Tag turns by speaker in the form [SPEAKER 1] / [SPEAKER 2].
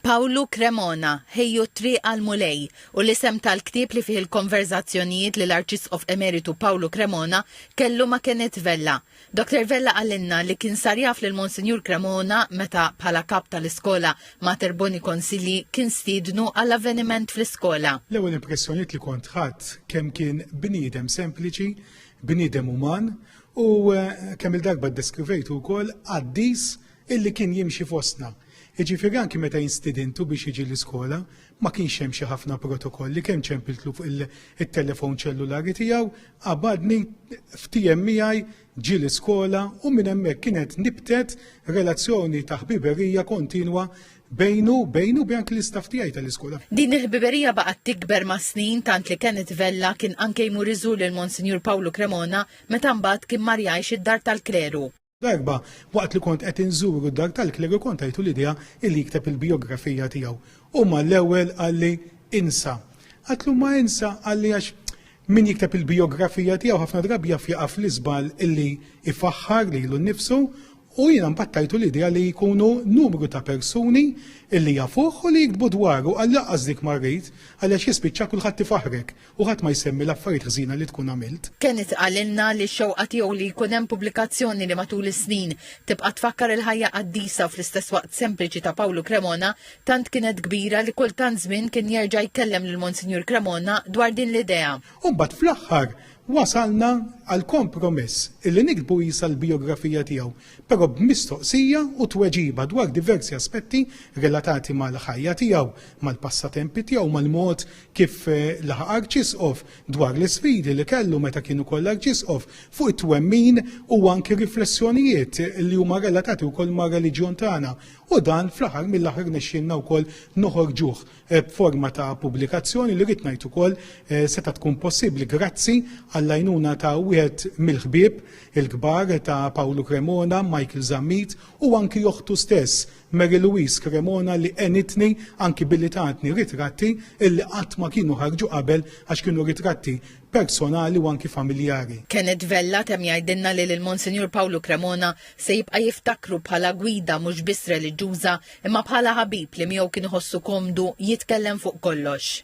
[SPEAKER 1] Pawlu Cremona, Ħejju t-Triq għall-Mulej, hu l-isem tal-ktieb li fih il-konverżazzjonijiet li l-Arċisqof Emeritu Pawlu Cremona kellu ma' Kenneth Vella. Doctor Vella qalilna li kien sar jaf lil Monsinjur Cremona meta, bħala kap tal-iskola Mater Boni Consilii, kien stiednu għal avveniment fl-iskola. L-ewwel impressjonijiet
[SPEAKER 2] li kont ħadt kemm kien bniedem sempliċi, bniedem uman u, kemm-il darba ddeskrivejtu wkoll, qaddis Illi kien jimxi fostna. Jiġifieri anki meta jien stidintu biex jiġi l-iskola, ma kienx hemm xi ħafna protokolli, kemm ċempiltlu fuq it-telefon ċellulari tiegħu, qabadni ftiehem miegħi, ġie l-iskola u minn hemmhekk kienet nibtet relazzjoni ta' ħbiberija kontinwa bejnu, bejnu u bejn anki l-istaff tiegħi tal-iskola. Din il-ħbiberija
[SPEAKER 1] baqgħet tikber mas-snin tant li Kenneth Vella kien anke jmur iżur lil Monsinjur Pawlu Cremona meta mbagħad kien mar jgħix id-Dar tal-Kleru. Darba,
[SPEAKER 2] waqt li kont qed inżuru d-dar tal-klerigu kont tajtu l-idea illi jikteb il-bijografija tiegħu. U mal-ewwel qalli, Insa. Għidtlu ma insa qalli għax min jikteb il-bijografija tiegħu ħafna drabi jaf jaqa' fl-iżball illi ifaħħar lilu nnifsu u jiena mbagħad tajtu l-idea li jkunu numru ta' persuni illi jafuh u li jiktbu dwaru għal laqqas dik ma rrid għaliex jispiċċa kulħadd ifaħħrek. U ħadd ma jsemmi l-affarijiet ħżiena li tkun għamilt. Kenneth qalilna
[SPEAKER 1] li x-xewqa tiegħu li jkun hemm pubblikazzjoni li matul is-snin tibqa' tfakkar il-ħajja qaddisa u fl-istess waqt sempliċi ta' Pawlu Cremona tant kienet kbira li kull tant żmien kien jerġa' jkellem lil Monsinjur Cremona dwar din l-idea. U mbagħad fl-aħħar
[SPEAKER 2] wasalna għall-kompromess illi niktbu qisha l-bijografija tiegħu, però b'mistoqsija u tweġiba dwar diversi aspetti relatati mal-ħajja tiegħu, mal-passatempi tiegħu, mal-mod kif laħaq Arċisqof, dwar l-isfidi li kellu meta kien ukoll Arċisqof, fuq it-twemmin u anki riflessjonijiet li huma relatati wkoll mar-reliġjon tagħna. U dan fl-aħħar mill-aħħar nexxielna wkoll noħorġuh eh, b'forma ta' pubblikazzjoni li rrid ngħid ukoll eh, seta' tkun possibbli grazzi għall-għajnuna ta' wieħed mill-ħbieb il-kbar ta' Pawlu Cremona, Michael Zammit u anki joħtu stess Mary Louise Cremona li għenitni anki billi tatni ritratti illi qatt ma kienu ħarġu qabel għax kienu ritratti personali u anki familjari. Kenneth Vella temm
[SPEAKER 1] jgħidilna li lil Monsinjur Pawlu Cremona se jibqa' jiftakru bħala gwida mhux biss reliġjuża imma bħala ħabib li miegħu kien iħossu komdu jitkellem fuq kollox.